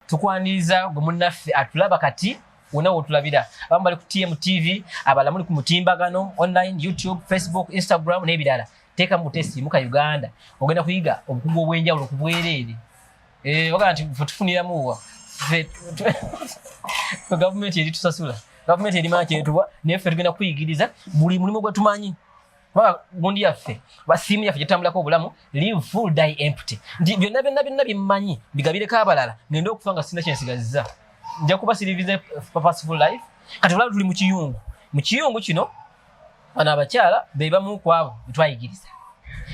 tukwaniriza gwe munnaffe atulaba kati wona wotulabira abamu bali ku tmtv abala muli ku mutimbagano online youtube facebook instagram n'ebirala teeka mu testi muka uganda ogenda kuyiga obukugu obw'enjawulo ku bwereere eh, ogamba nti fe tufuniramuwa gavumenti eri tusasula gavumenti eri maakyetubwa naye ffe tugenda kuyigiriza buli mulimu gwe tumanyi kubanga gundi yaffe basiimu yaffe gyetambulako obulamu live full die empty nti byonna byonna byonna bimmanyi bigabireko abalala ngende okufa nga sina kyensigaziza nja kuba sirivize purposeful life kati olaba tuli mu kiyungu mu kiyungu kino bano abakyala be bamu ku abo betwayigiriza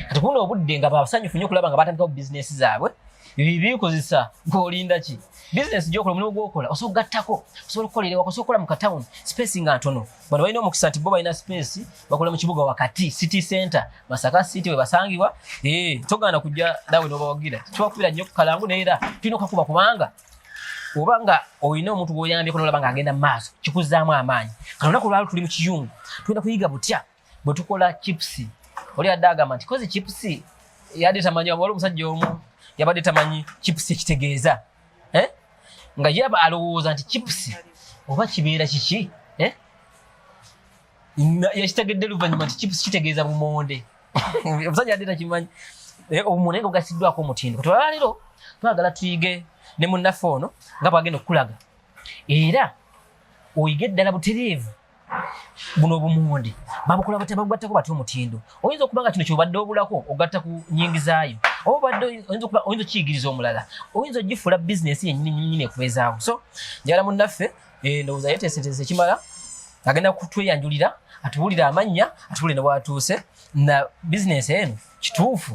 kati kuno obudde nga basanyufu nyo okulaba nga batandikawo bizinesi zaabwe bibikozesa ng'olinda ki bizinesi gyokola omulimu gwokola osobola okugattako osobola okukolera waka osobola okukola mu katawuni space nga ntono bano balina omukisa nti bo balina space bakola mu kibuga wakati city center masaka city webasangibwa eh, togana kujja nawe nobawagira tubakubira nnyo kukalangu neera tulina okakuba kubanga oba nga olina omuntu gwoyambyeko nolaba nga agenda maaso kikuzaamu amaanyi kano naku lwalo tuli mu kiyungu tulina kuyiga butya bwe tukola chips oli adde agamba nti kozi chips yadde tamanyi waliwo omusajja omu yabadde tamanyi chips ekitegeeza eh? nga yaba alowooza nti chipusi oba kibeera kiki eh? yakitegedde luvanyuma nti chipusi kitegeeza bumonde omusajja adde takimanyi eh, omuntu naye gugasiddwako omutindo kutwala leero twagala tuyige ne munnaffe ono nga bwagenda okukulaga era oyige ddala butereevu buno obumundi babukola batya babugattako batya omutindo oyinza okuba nga kino kyobadde obulako ogatta ku nyingizaayo oba obadde oyinza okukiyigiriza omulala oyinza ogifuula bizinesi yenyininyini ekwezaawo so njala munnaffe eh, ndowooza yeteeseteese ekimala agenda kutweyanjulira atuwulire amannya atuwulire ne bwatuuse na bizinesi eno kituufu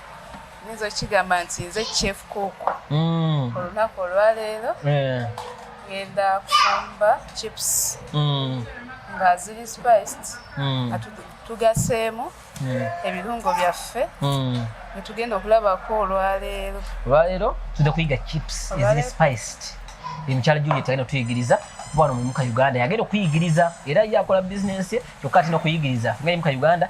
nyinza okigamba nti nze chef cook mm. olunaku olwaleero eh. ngenda kufumba chips mm. nga ziri spiced mm. tugaseemu ebirungo byaffe netugenda okulabako olwaleero olwaleero tuda kuyiga chips eziri spiced emukyala juliet agenda okutuyigiriza kuba wano muyimuka uganda yagenda okuyigiriza era yakola bizinensi ye kyokka atina okuyigiriza nga yimuka uganda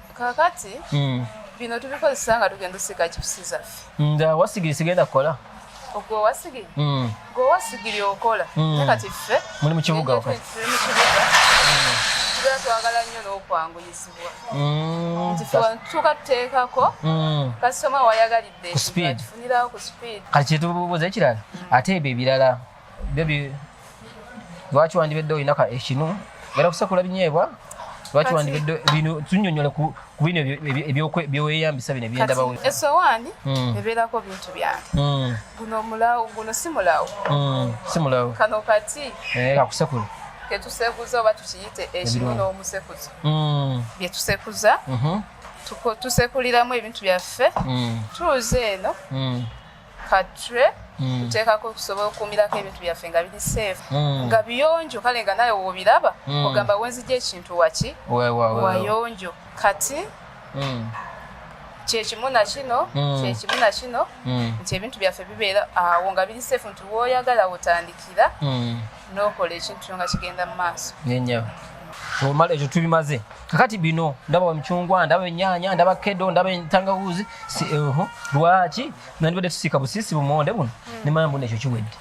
kakati mm. bino tubikozesa nga tugenda osiga chipusi zaffe nga wasigiri sigenda kukola ogwe wasigiri mm. gwe wasigiri okola mm. naye kati ffe muli mu kibuga wakati tuli mu kibuga mm. tubeera twagala nnyo n'okwanguyizibwa mm. nti tuuka tuteekako mm. kasitoma wayagalidde tufunirawo ku speed kati kyetubuuza ekirala mm. ate ebyo ebirala bebi lwaki wandibedde olina ka ekinu era kusekula binyeebwa lwaki wandibedde bino tunyonyole ku bino byeweyambisa bino ebyendabawo esowaani hmm. ebeerako bintu byange hmm. guno mulawo guno si mulawo hmm. si mulawo kano kati eh, kakusekula ketusekuza oba tukiyite ekinu n'omusekuzo byetusekuza mhm. tusekuliramu ebintu byaffe tuuze eno katre mm. tuteekako okusobola okukuumirako ebintu byaffe nga biri safe mm. nga biyonjo kale nga naye wobiraba mm. ogamba wenzija ekintu waki wayonjo kati kyekimu nakino kyekimu nakino nti ebintu byaffe bibeera awo nga biri safe nti woyagala wotandikira n'okola ekintu kyo nga kigenda mu maaso nenyabo omala ekyo tubimaze kakati bino ndaba emicungwa ndaba enyaanya ndaba kedo ndaba entangawuuzi eh, lwaki nandibadde tusiika busiisi bumonde buno hmm. nemanya mbuno ekyo kiwedde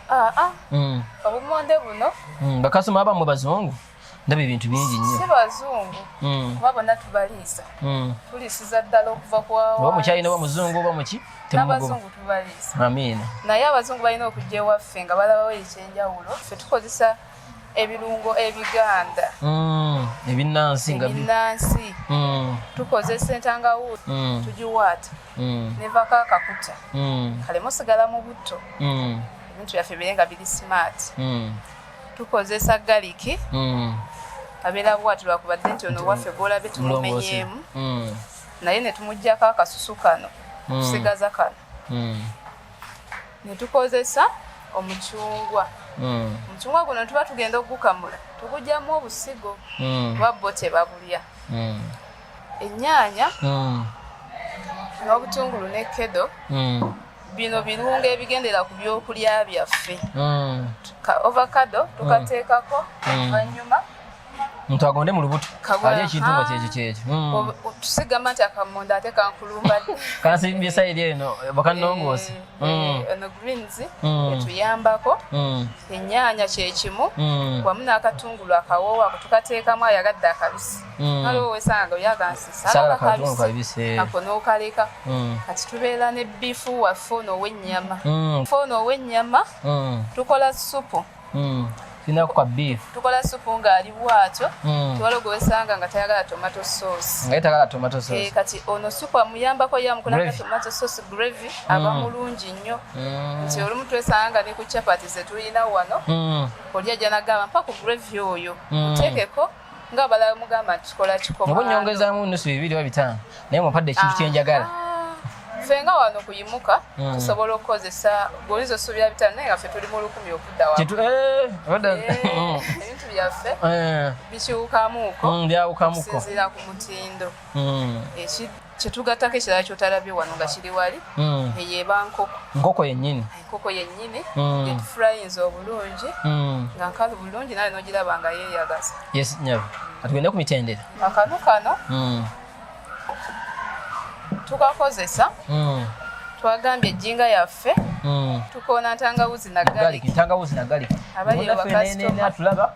ah, ah. Hmm. obumonde buno hmm, bakasoma abamwe bazungu ndaba ebintu bingi nnyo si bazungu hmm. kuba bonna tubaliisa hmm. tulisiza ddala okuva kuoba mukyalina oba muzungu oba muki abazungu tubaliisa amiina naye abazungu balina okujja ewaffe nga balabawo ekyenjawulo fe tukozesa ebirungo ebiganda hmm. ebinnansi ngabinnansi tukozesa entangawuuli tugiwaata nevako akakuta kale musigala mu butto ebintu byaffe bire nga biri smart tukozesa galiki mm. abeera bwati lwakubadde nti ono waffe gwolabye tumumenyeemu mm. naye netumugjako akasusu kano mm. tusigaza kano mm. netukozesa omucungwa mm. omucungwa guno tuba tugenda okugukamula tugugyamu obusigo mm. kuba bo tebabulya mm. enyaanya mm. n'obutungulu ne kedo mm. bino birungo ebigendera ku byokulya byaffe hmm. ovacado hmm. tukateekako hmm. vanyuma muntu agonde mu lubuto ali ekintu nga kyekyo kyekyo tusigamba nti akamonda ate kankulumba kansimbye sayiri eno bakanongoose eh, eh, eh, ono greens etuyambako enyaanya kyekimu wamu n'akatungulu akawoowa kutukateekamu ayagadde akabisi Mm. waliwo wesanga yagansisakakabisa ako nokaleka mm. kati tubeera ne bifu waffe ono owenyama mm. fe ono owenyama tukola supu tukola supu ngaali bwatyo tewaliwo gwewesanga nga tayagala tomato sauce kati ono supu amuyambako yamukolanga tomato sauce gravy aba mulungi nnyo nti olumu twesanga nga ne ku chapati zetulina wano olya janagamba mpa ku gravy oyo utekeko nga balala mugamba kikola kikoma nabo nyongezamu nusu bibiri oba bitaano naye mumpadde ekintu kye njagala ah, ffe nga wano kuyimuka hmm. tusobola okukozesa golizo subira bitaano naye nga ffe tuli mu lukumi okudda wa eh, eh, hmm. ebintu byaffe eh. bikiwukamuuko hmm, byawukamuko sinzira ku mutindo kyetugattako ekirala kyotalabye wano nga kiri wali mm. eyeba nkoko nkoko yenyini enkoko yenyini mm. etufurayinza obulungi mm. nga nkalu bulungi naye nogiraba nga yeyagaza yes nyabo atugende ku mitendera akanu kano mm. tukakozesa mm. twagambye ejjinga yaffe mm. tukoona ntangawuzi nagali ntangawuzi nagali abali bakasitoma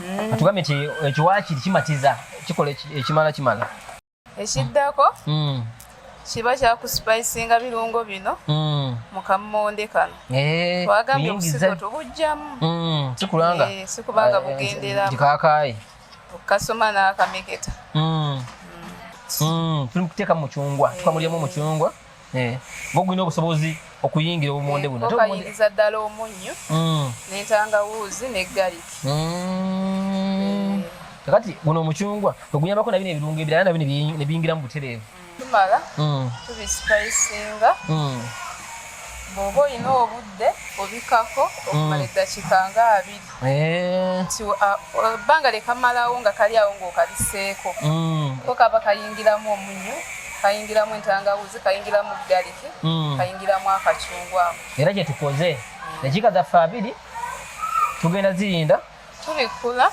mm. atugambye nti ekiwaakiri kimatiza kikola ekimala kimala ekiddako mm. kiba kyakusipayisinga birungo bino mm. mu kammonde kano eh, twagambye obusigo tubujjamu sikulanga eh, sikubanga eh, bugenderamu kakaye okukasoma n'akamegeta tuli mu kuteeka mucungwa tukamulyamu mucungwa Eh, bogulina obusobozi okuyingira obumonde buno eh, bayingiza ddala omunnyo mm. nentangawuuzi ne gariki mm. eh. kakati guno omucungwa ogunyambako nabino ebirungo ebirala nabino nebiyingira mu butereevu mm. tumala tubisipayisinga bwoba olina obudde obikako okumala eddakiika nga abiri Eh. nti ebbanga lyekamalawo nga kali awo ngaokaliseeko mm. ko kaba kayingiramu omunyu kayingiramu entangawuzi kayingiramu galiki mm. kayingiramu akacungwako era kyetukoze mm. dakika zaffe abiri tugenda zirinda tubikula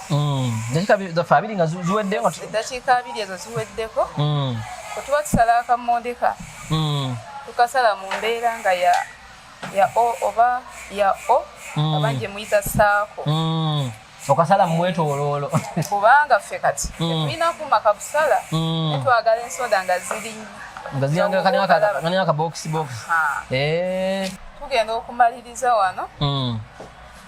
dakika zaffe abiri nga ziweddeko eddakiika abiri ezo ziweddeko kwetuba tusala akamondeka tukasala mu mbeera nga ya ya o oba ya o mm. abanje muyita saako mm. okasala mumwetoloolo kubanga ffe kati mm. tetulina kuma kabusala mm. netwagala ensoda nga ziri nga ziyangakani akabokisi bokisi eh. tugenda okumaliriza wano mm.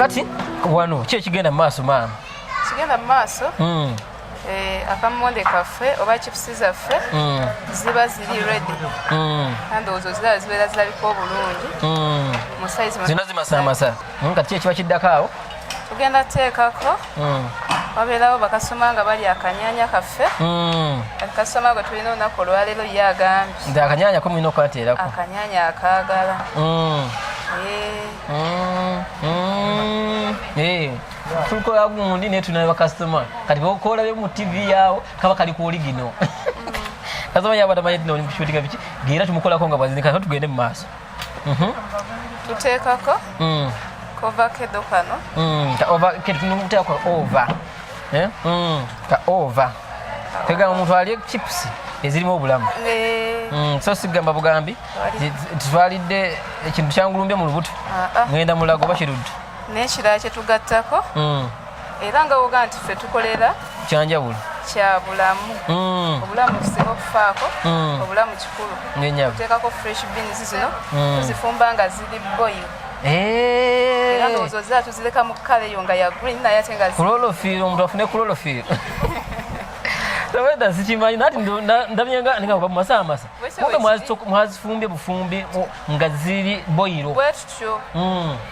kati wano ki ekigenda mu maaso maama kigenda mu maaso hmm. eh, akamonde kaffe oba chipusi zaffe hmm. ziba ziri redi hmm. andowoozo ziraba zibeera zirabika obulungi zino zimasamasa kati ki ekiba kiddako awo tugenda teekako hmm. wabeerawo bakasoma nga bali akanyanya kaffe hmm. kasoma gwe tulina olunaku olwaleero ye agambye nti akanyanya komulina okukateerako akanyanya akaagala hmm. tukola gundi naye tulina bakasitoma kati bokola be mu tivi yaawo kaba kali ku oligino kasoma yabadamanyetinaolimukishutinga biki geera tumukolako nga bwazinika tugende mu maaso Mhm. tuteekako mm. kovakedo kano mm. ketuteekako ova eh? mm. ka ova tegamba omuntu alye chips ezirimu obulamu eh. so sigamba bugambi titwalidde ekintu kyangulumbye mu lubuto ah, ah. ngenda mulago oba kiruddu nekirala kyetugattako era nga woga nti ffe tukolera kyanjawulo kya bulamu mm. obulamu tusinga okufaako mm. obulamu kikulu oteekako fresh beans zino mm. tuzifumba nga ziri boyi eh. era ndowoozo zira tuzireka mu kala eyo nga ya green naye ate nga kulolofiiro omuntu afune kulolofiiro taweda sikimanyi nati ndabyenga ninga kuba mumasaha masa kumbe mwazifumbye bufumbi nga ziri boyiro bwetutyo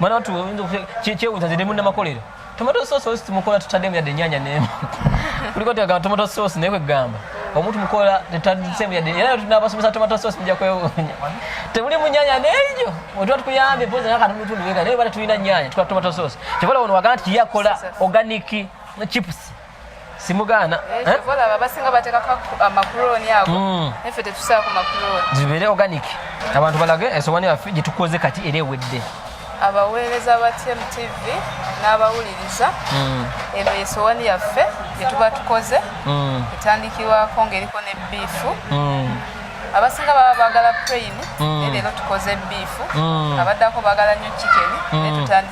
mwana watu kyewuza ziri munnamakolero tomato sauce osi tumukola tutaddemu yadde enyanya nemu kuliko tegamba tomato sauce naye kwegamba omuntu mukola tetadisemu yadde era tunabasomesa tomato sauce muja kwewunya temuli munyanya nejo otuba tukuyambye poza naka numutundu wega naye bata tulina nyanya tukwa tomato sauce kyobola ono wagana nti yakola organic chips simugaana eh, eh? olaba basinga bateekako amakulooni ago hmm. naffe tetusaako makulooni zibeere organic abantu balage esowani yaffe gyetukoze kati era ewedde abaweereza ba tmtv n'abawuliriza hmm. eno esowani yaffe gyetuba tukoze hmm. etandikirwako ngaeriko ne biifu abasinga baba bagala prain leero tukoze biifu abaddako bagala nyo chiken netutandika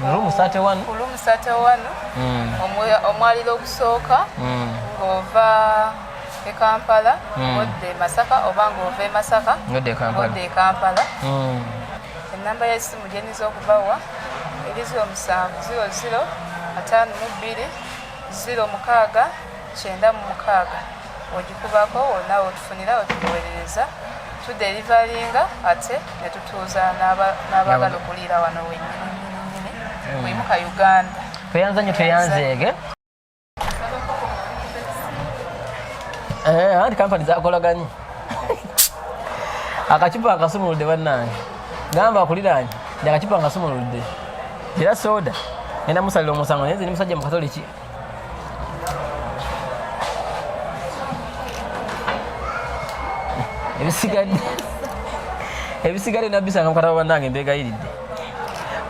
Room 31. Room 31. Mm. Omwaliro ogusooka mm. ng'ova e Kampala mm. odda e Masaka oba ng'ova e Masaka odda e Kampala. Mm. Ennamba y'essimu gye nniza okubawa eri ziro musanvu ziro ziro ataano mu bbiri ziro mukaaga kyenda mu mukaaga. ogikubako wonna wotufunira otugowerereza tuderivalinga ate netutuuza n'abagala okuliira wano wenyininyininyini hmm. wimuka uganda tweyanza nyo tweyanzeege eh, anti kampani zakolaganyi akacupa akasumuludde bannange gamba akuliraanyi ndi akacupa nkasumuludde era soda nenda musalira omusango naye nze ndi musajja mukatoliki ebisigadde ebisigadde nabisanga mukataba banange mbegayiridde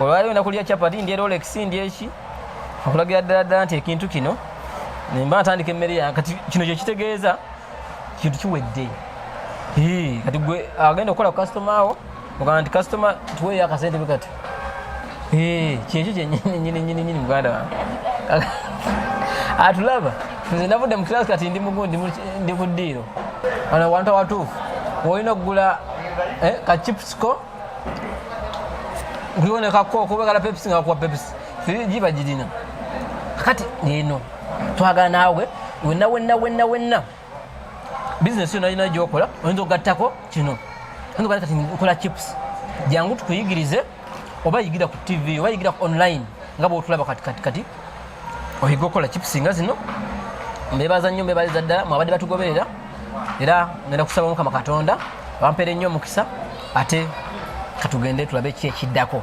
olwaliwo nakulya chapati ndye rolex ndye eki okulagira ddala ddala nti ekintu kino nemba natandika emmere yange kati kino kyekitegeeza kintu kiwedde kati gwe agenda okukola ku kasitoma wo ogamba nti kasitoma tuweeyo akasente bwekati kyekyo kyenyininyininyini muganda wange atulaba nze navudde mu kirasi kati ndi mugundi ndi ku ddiiro wano wantu awatuufu olina okugula eh, kachipsco kuliwonekako okubagala pepsi nga kuwa pepsi giba girina kati eno twagala naawe wenna wenna wenna wenna bizinesi yona yina gyokola oyinza okugattako kino oyinza okugatta kati nkola chips jangu tukuyigirize oba yigira ku tv oba yigira ku online nga bwotulaba kati kati kati oyiga okukola chips nga zino mbebaza nnyo mbebaliza ddala mwabadde batugoberera era ngenda kusaba mukama katonda bampere nnyo omukisa ate katugende tulabe ki ekiddako